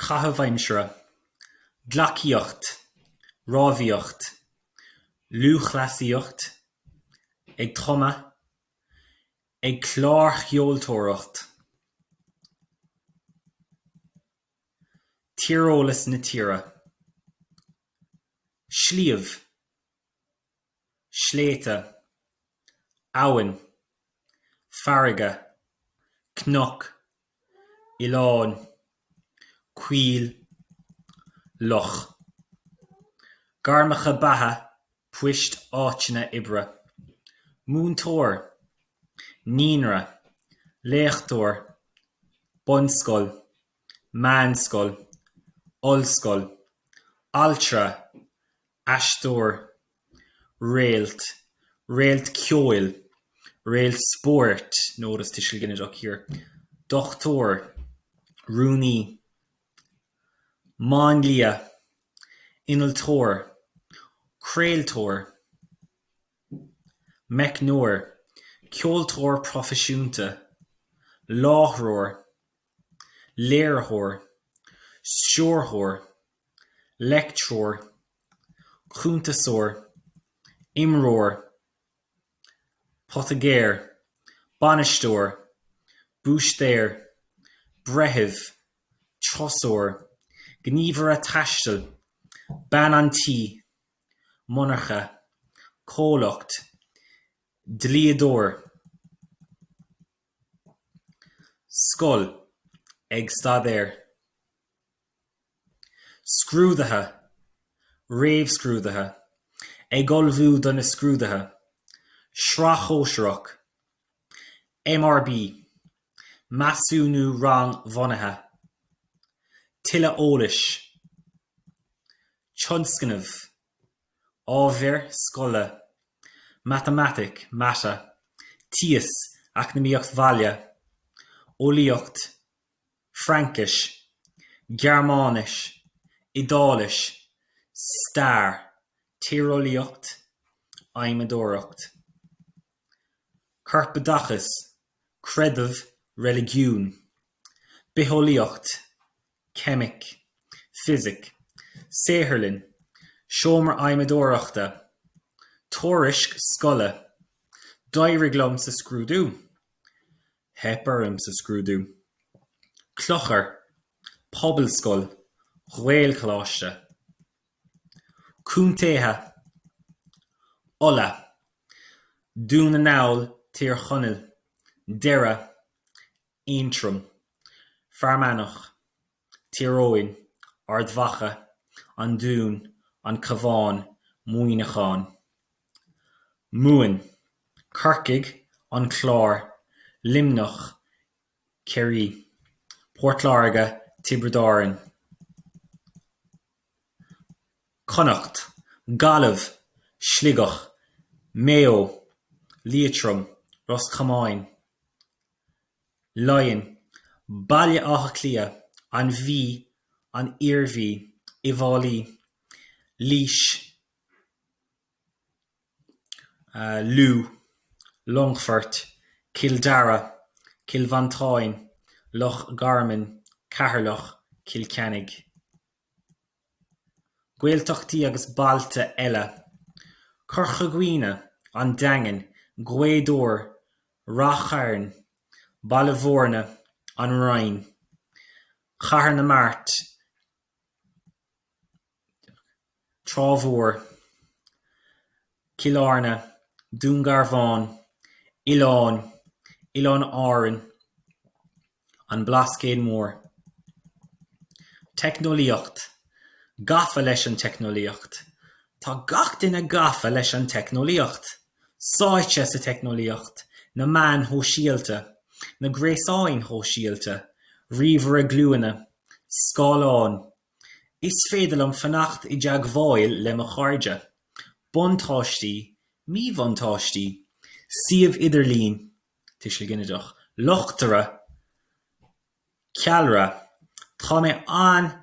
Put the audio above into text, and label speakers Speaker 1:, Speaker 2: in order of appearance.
Speaker 1: caitheamh aimsire, gleacaíocht, rámhaíocht, lúthchleasaíocht, ag tumadh, ag clársheoltóireacht, Tíreolas na tíre, sliabh. sléibhte, abhainn, farraige, cnoc, oileán, coill, loch. Gairmeacha beatha, poist, áiteanna oibre, múinteoir, naíonra, léachtóir, bunscoil, meánscoil, ollscoil, altra, aisteoir, réalt, réalt ceoil, réalt spóirt, notice tuiseal ginideach here, dochtúir, rúnaí, máinlia, innealtóir, craoltóir, meicneoir, ceoltóir proifisiúnta, láithreoir. léiritheoir, stiúrthóir, leictreoir, cuntasóir, imreoir, poitigéir, bainisteoir, búistéir, breitheamh, treasóir, gníomhaire taistil, bean an tí, monarcha, comhlacht, dlíodóir. Scoil, ag staidéar. Scrúdaithe, réamhscrúdaithe, ag ullmhú do na scrúdaithe. Sraith shóisearach. MRB, measúnú rangbhunaithe. Tuilleadh eolais. Tionscnamh. Ábhair scoile, Matamaitic, mata, Tíos, Eacnamaíocht Bhaile, Eolaíocht, Fraincis, Gearmáinis, Iodáilis, Stair, Tíreolaíocht, Adhmadóireacht. Corpoideachas, Creideamh, Reiligiún, Bitheolaíocht, Ceimic, Fisic, Saotharlann, Seomra Adhmadóireachta, Tuairisc scoile, D'éirigh liom sa scrúdú. Theip orm sa scrúdú. Clochar, Pobalscoil, Gaelcholáiste. Contaetha, Uladh, Dún na nGall, Tír Chonaill, Doire, Aontroim, Fear Manach, Tír Eoghain, Ard Mhacha, An Dún, An Cabhán, Muineachán. Mumhan, Corcaigh, An Clár, Luimneach, Ciarraí, Port Láirge, Tiobraid Árann. Connacht, Gaillimh, Sligeach, Maigh Eo, Liatroim, Ros Comáin. Laighin, Baile Átha Cliath, An Mhí, An Iarmhí, Uíbh Fhailí, Laois, Lú, Longfort, Cill Dara, Cill Mhantáin, Loch Garman, Ceatharlach, Cill Chainnigh. Gaeltachtaí agus bailte eile, Corca Dhuibhne, An Daingean, Gaoth Dobhair, Ráth Chairn, Baile Bhúirne, An Rinn, Cathair na Mart, Trá Mhór, Cill Airne, Dún Garbhán, Oileáin, Oileáin Árann, An Blascaod Mór. Teicneolaíocht, Gafa leis an teicneolaíocht. Tá gach duine gafa leis an teicneolaíocht. Sáite sa teicneolaíocht, na meáin shóisialta, na gréasáin shóisialta, ríomhaire glúine, scáileán. Is féidir liom fanacht i dteagmháil le mo chairde. Buntáistí, míbhuntáistí, Suíomh idirlín. tuiseal ginideach luchtaire, ceallra, Tá mé an-tógtha.